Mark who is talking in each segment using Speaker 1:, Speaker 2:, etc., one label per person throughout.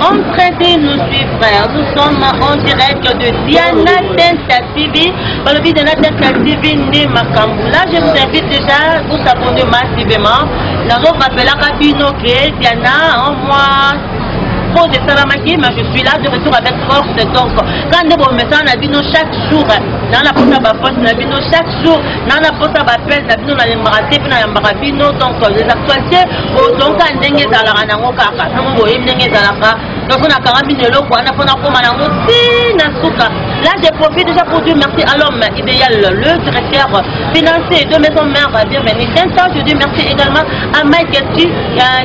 Speaker 1: On pressé nous suivre frère. Nous sommes en direct de Diana Tenta TV. Dans le Diana Tenta TV né Makambu. Là, je vous invite déjà vous s'abonner massivement. Nous avons rappelé à Bino que Diana, en moi, pose esalamaki mais je suis là de retour avec force donc quand nde bomesana na bino chaque jour nana mpona baforce na bino chaque jour na na posa bapese na bino nalembaka te mpe nayambaka bino donc les actualité bozongi kaka ndenge ezalaka nango kaka ntango boyebi ndenge ezalaka donc mpo nakanga bino eloko wana mpo nakoma nango ti na suka là je profite déjà pour dire merci à l'homme idéal le directeur financier de maison mère bienvenue un temps je dis merci également à mike tu euh,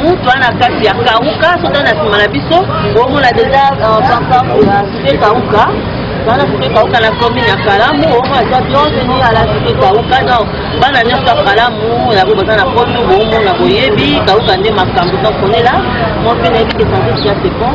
Speaker 1: mutu ana kati ya kauka soki na nsima na biso omona deja euh, pankarte ya site kauka bana site kauka na commune ya kalamu omona eza bienvenu ala site kauka donc bana nyonso ya kalamu yango baza na poto boomona boyebi kauka nde makambo donc onela moi mpe nayebi ke santé sia sepon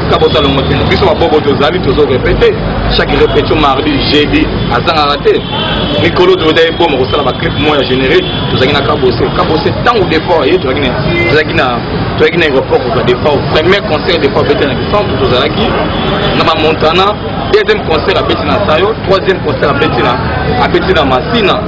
Speaker 2: ka bosalongo te biso babobo tozali tozo repete chaque repetio mardi jeudi azangaka te mikolo toza eboma kosala baclip mo ya générique tozalaki na kabose kabose ntango depart ye tozalaki na tozalaki na tozalaki na aéroport kozwa depart premier concert depart bete na bisantu tozalaki na bamontana deuxième concert abeti na sayo troisième concert abeti na abeti na masina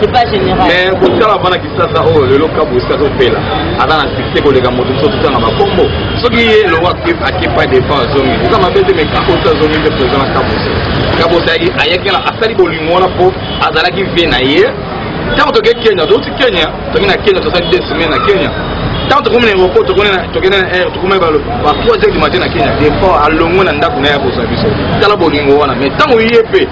Speaker 1: c'est pas général mais kotala bana
Speaker 2: kisasa oyo oh, lelo kabu esika azopela aza na succès koleka moto biso totanga bakombo soki ye elongo akepa defa azongi eza mabe te mais kabu osi azongi nde toza na kabu osi kabu osi ayakela asali bolingo wana mpo azalaki vie na ye ntango toke kenya touti kenya tomi na kenya tozali deux semaine na kenya ntango tokomi na aéroport tokende na air tokomi ba 3 heures du matin na kenya defort alongwe na ndako na ye akozwa biso tala bolingo wana mais ntango ye mpe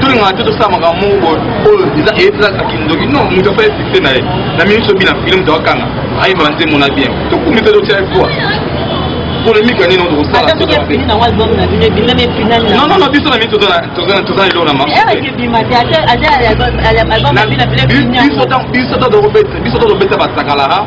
Speaker 1: tolingaka te tosala makambo moko boye oyo eza eyebisaka kindoki non moto afai fixe na ye na mingi sobi na file moto akanga ayeba nzembo na bien tokomi mpe totya efoi polémique ya nini tokosala non non biso na mingi toza lelo na mabiso tokobeta basakalara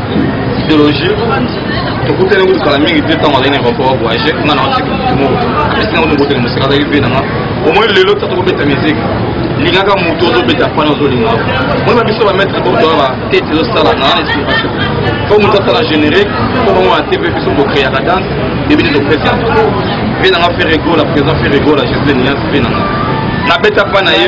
Speaker 1: ideologie tokutani kutu kala mingi te ntango azali na aéroport ya voyage nga na watiki motu moko apesi nango tokotele mosika azalaki mpe nanga omoi lelo ta tokobeta miziki lingaka motu ozobeta fani ozolinga moi babiso bamaître botoa batete ezosala na inspiration fo motu asala générique fo bango na tv biso tokreaka danse ebini topesi yango mpe nanga ferregola présent ferregola gisle nias mpe nanga nabeta mpa na ye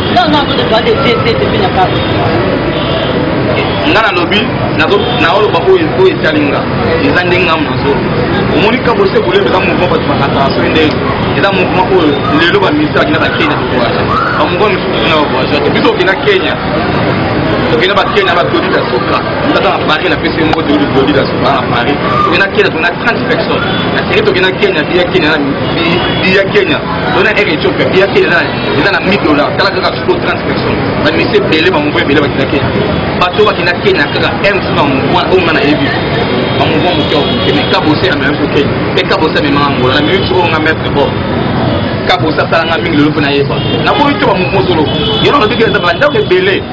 Speaker 1: Non, non, tout dépend des pieds, c'est depuis la part. nga nalobi naoloba oyo etali nga eza ndenge nga monazo omoni kabose bolebe eza mouvement bato bakataka soki nde eza mouvement oyo lelo baministre bakenda ba kenya tokowaja bamouvement mosusu kuna bakowaja te biso okenda kenya tokenda ba kenya ba claudi da soka tata na paris na pesi moko tokende claudi da soka na paris tokenda kenya tokenda 30 personnes na seri tokenda kenya biya kenya biya kenya tokenda air ethiopia biya kenya na eza na 1000 dollars tala kaka siko 30 personnes bamisi ebele bamouvement ebele bakenda kenya bato bakenda kenya kaka m funa bamouvement oyo nga na yebi bamouvement moke okoke me kabose amema biso kenya mpe kabose amemanga ngola na mimi biso oyo nga maître bord kabose asalanga mingi lelo mpo nayeba nakomi te bamouvement solo yelo nabiki eza bandako ebele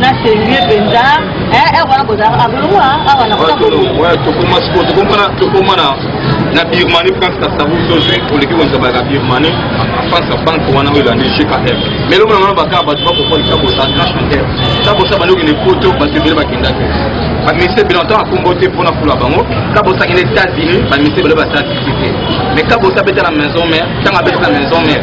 Speaker 1: na sérieux mpenza eh, eh, wana bozalaka bolongwa ah, awa nakotokoma na na birmanie france kasabu tozwi oleki konzabaka birmanie france ya banke wana oyo elandi gkf mais elongo na wana bakaka bato bakokoli tabosa nationaire tabosa bandi okende poto bato ebele bakenda te baministre ebele ntango akombo te mpo na fula bango kabosa akende états-unis baministre ebele basala tiki te mais kabosa abeta na maison mare ntango abeta na maison mare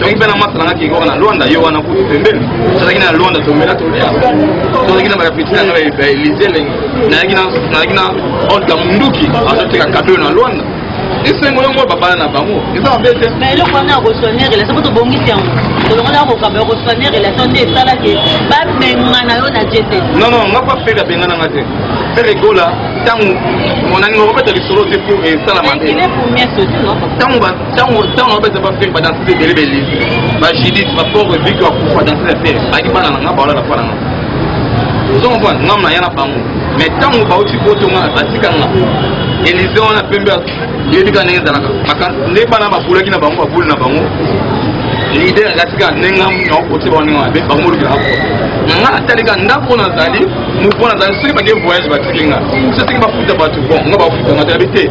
Speaker 2: donc mpe na masa nanga kenge wana lwanda yo wana kutu pembeni tozalaki na lwanda tomela tolia tozalaki na bapeti nanga baelize lenge nayaki na olga munduki azoteka kado na lwanda esengo yango babala na bango eza mabe te na eloko wana akosonye
Speaker 1: relation po tobongisi yango tolongona akokamba akosonye relation nde esala ke babengana yo na jete non non nga pa fere
Speaker 2: abengana nga te fere egola ntango monani okobeta lisolo te po esala mabe ntango
Speaker 1: ntango
Speaker 2: ntango abeta bafilme badanse mpe ebele bele bajilite bapore vike bakufa danse na fere ayaki bana na nga baola na fana nga ozo comprendre ngam na ya na bango mais ntango bauti poto nga batika nga elise wana pembe yebi ka ndenge ezalaka nde bana bakulaki na bango bakuli na bango lide akatika ndenge naokoti bango ndenge mabe bango molukilaka poto nga natalika ndako nazali moko nazali soki bake voyage batiki nga soki bafuta bato bon nga bafuta nga toyabi te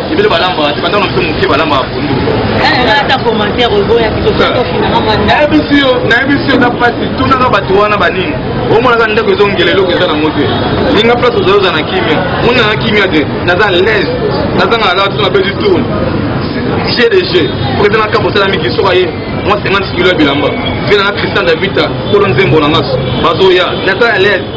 Speaker 2: ebele balambaka te banda na biso moke balambaka pondu
Speaker 1: nayebisi yo
Speaker 2: nayebisi yo eza mpasi tunaka bato wana banini omonaka ndako ezongela eloko eza nango te linga place ozali oza na kimia moni na kimia te naza lese nazangaka kaka tuna bedi tourne jeu de jeu président akabo osalami kiso aye mwa 50 kilo ya bilamba mpe nanga christian davita kolo nzembo na ngaso bazoya naza lese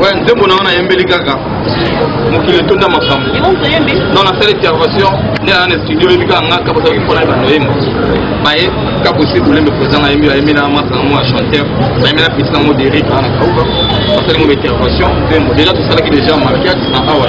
Speaker 2: Ouais, nzembo na wana yembeli kaka mokili etonda makambo non nasala intervention nde aa na studio oyebi kaka nga kaka ozalaki mpona ebanda oyemba baye kaka osi kolembe président na yembi ayembi na masa nango ya chanteur nayembi na petit nango derik aa na kauka basali ngo ba intervention nzembo deja tosalaki deja mariage na awa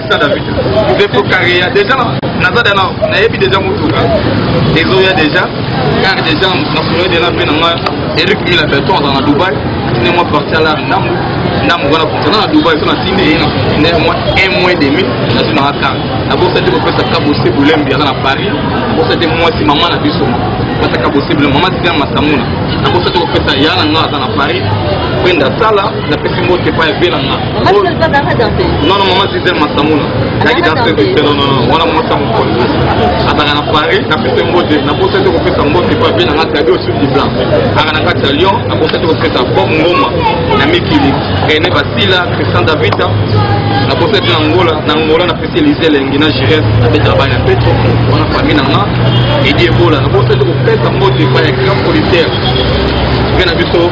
Speaker 2: Sa David, Zefo Karea, deja naza dana nayebi deja motuka ezoya deja car deja nasololi deja mpe na ngai eric mila beton azala na dubai atindi mwa parti ala ndambu ndambu wana fonctionna na dubai so natindi ye na fonctionnaire mwa un mois demi nazwi na akar nabosa te kopesa kabose bulembi aza na paris nabosa te mwasi mama na biso basaka bose bulembi mama tiana masamuna nabosa te kopesa ya na ngai aza na paris penda sala napesi mbote epai ya
Speaker 1: vela nga non non mama gisele
Speaker 2: masamuna naki danse vite non non wana mwasi ya mokolo azalaka na paris napesi mbote naposa te kopesa mbote epai ya vela nga tabi osu du blanc aka na kati ya lyon naposa te kopesa bob ngoma na mikili rene basila christian davita naposa te na ngola na ngola napesi elise elengi na gires abetaka bana ya petro wana fami na nga edi ebola naposa te kopesa mbote epai ya grand policière mpe na biso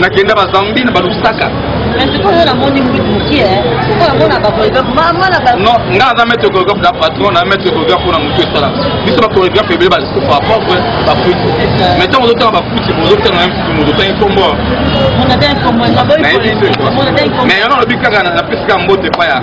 Speaker 2: nakenda bazambi na balusaka
Speaker 1: non nga
Speaker 2: aza maître chorégraphe na patron na maître chorégraphe mpona motu esala biso bachorégraphe ebele balisusu par propre bafuti mais ntango ozotanga bafuti ozotanga na mfuti moto otangi nkombo mais yana olobi kaka napesi kaka mbote epai ya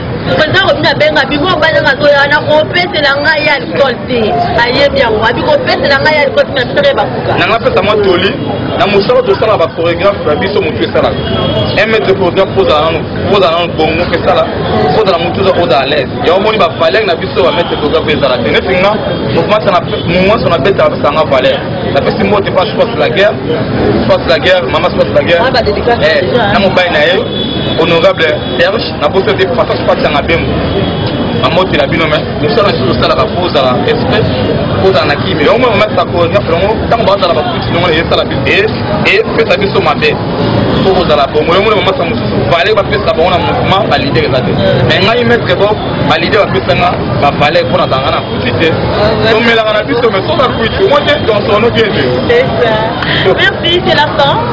Speaker 1: president kobino abenga biko obanda nazoya na kopesela ngai ya likole te ayebi yango abi kopesela ngai ya likole te na biso bakuka nanga pesa mwa toli
Speaker 2: na mosala tosala bachoregraphe na biso motu esalaka un mètre choregraphe ozala nano bongo esala ozala motu oza oza à l'aise ya omoni bavaleur na biso ba mètre choregraphe ezala te neti nga momanso na beta basanga valeur napesi mbote mpa space la guerre space la guerre mama space la guerre na mobali na ye honorable serge na boso te papa kopatanga bembo bamotela bino me mosala lisusu osalaka po ozala espèce po ozala na kimi yango mwana omatisa konefe yango ntango bazala bakuti nongo na esala biso e epesa biso mabe po kozala bongo yango mwana omatisa mosusu vale bapesa bango na mouvement balidere eza te me ngai maître bo balidere bapesanga bavale mpo nazalanga na kuti te tomelaka na biso me soza kuiti omoi te donsono bien te
Speaker 1: Merci, c'est la fin.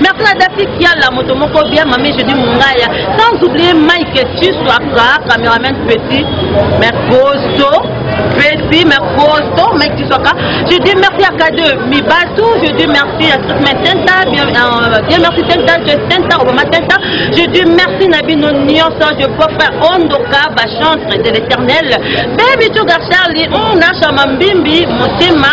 Speaker 1: Merci na Dafi Kiala, moto moko bien, mamie Jeudi Mungaya, sans oublier Mike Susu, Aka, cameraman petit, Mercoso, petit, Mercoso, Mike Susu, Aka. Je dis merci à K2, Mibatu, je dis merci à Sukma Tenta, bien, euh, bien merci Tenta, je Tenta, Obama Tenta, je dis merci Nabino Nyoso, je peux faire Ondoka, Bachantre de l'éternel, Baby Sugar Charlie, Muna Chamambimbi, Motema,